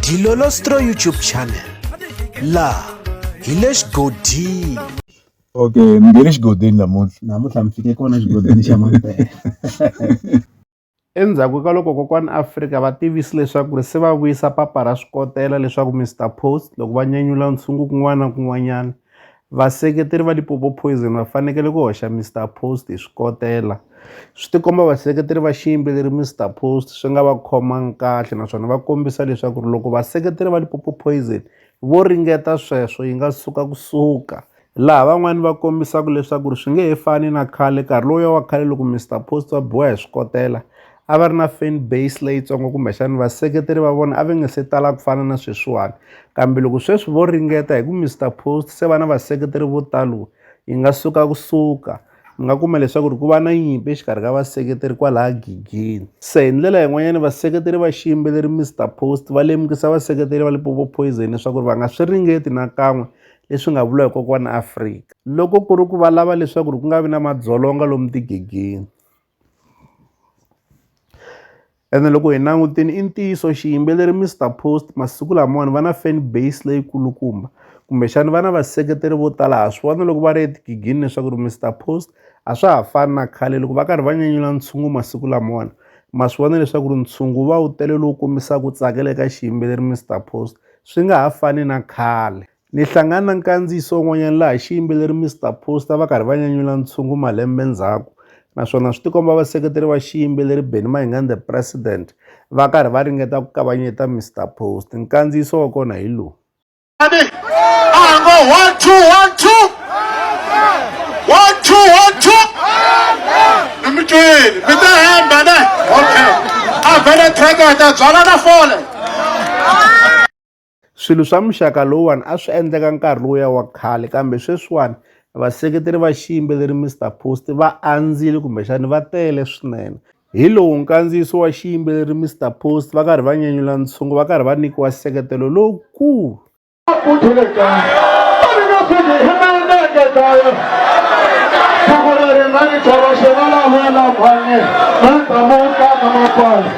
Dilolostro YouTube channel la hi le xigodini okay mi nge le xigodini namuntlha namuntlha mi fike kona xigodini xa mampela endzhaku ka loko kokwani afrika va tivisi leswaku ri se va vuyisa papa ra swikotela leswaku mr post loko va nyanyula ntshungu kun'wana na kun'wanyana Vaseketeri va Lipopo Poison va fanekele ku hoxa Mister Post hi swikotela. Swi tikomba vaseketeri va xiyimbeleri Mister Post swi nga va khomangi kahle naswona va kombisa leswaku ri loko vaseketeri va Lipopo Poison vo ringeta sweswo yi nga suka ku suka, laha van'wani va kombisaka leswaku ri swi nge he fani na khale nkarhi lowuya wa khale loko Mister Post va biwa hi swikotela. a va ri na fan base leyitsongo kumbexani vaseketeri va vona a va nga se tala ku fana na sweswiwani kambe loko sweswi vo ringeta hi ku Mister Post se va na vaseketeri vo talo yi nga suka kusuka mi nga kuma leswaku ri ku va na nyimpi exikarhi ka vaseketeri kwalaya gigini se hi ndlela yin'wanyana vaseketeri va xiyimbeleri Mister Post va lemukisa vaseketeri va Limpopo Poison leswaku ri va nga swi ringeti nakan'we leswi nga vula hi kokwana Afrika loko ku ri ku va lava leswaku ri ku nga vi na madzolonga lomu tigigini. ene loko hi langutile i ntiyiso xiyimbeleri Mister Post masiku lamawani va na fan base leyi kulukumba kumbexani va na vaseketeri vo tala ha swi vona loko va ri etigigini leswaku ri Mister Post a swa ha fani na khale loko va karhi va nyanyula ntshungu masiku lamawani ma swi vona leswaku ri ntshungu wu va wu tele lowu kombisaka ku tsakela eka xiyimbeleri Mister Post swi nga ha fani na khale Ni hlangane na nkandziyiso wun'wanyana laha xiyimbeleri Mister Poster va karhi va nyanyula ntshungu malembe ndzhaku naswona swi tikomba vaseketeri va xiyimbeleri Benny Mayengani The President va karhi va ringeta ku kavanyeta Mister Poster nkandziyiso wa kona hi lowu Okay. I've been a track that that's all I Swilo swa muxaka lowuwani a swi endleka nkarhi lowuya wa khale kambe sweswiwani vaseketeri va xiyimbeleri Mister Post va andzile kumbexani va tele swinene hi lowu nkandziyiso wa xiyimbeleri Mister Post va karhi va nyenyula ntshungu va karhi va nyikiwa nseketelo lowukulu Thank you.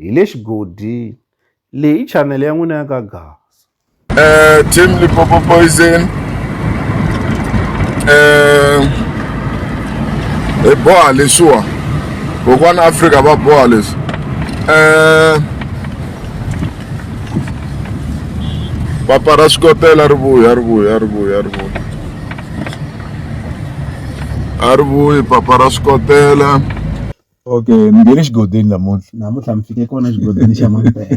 Hi le xigodini. Leyi i chanele ya n'wina ya ka Gaza. Uh, team Limpopo Poison. Uh, hi boha leswiwa. Kokwana Afrika va boha leswi. Uh, papa ra swikotela ri vuya ri vuya ri vuya ri vuya a ri vuyi papa ra swikotela Okay ni nghene xigodini namuntlha. Namuntlha mi fike kona xigodini xa Mampela.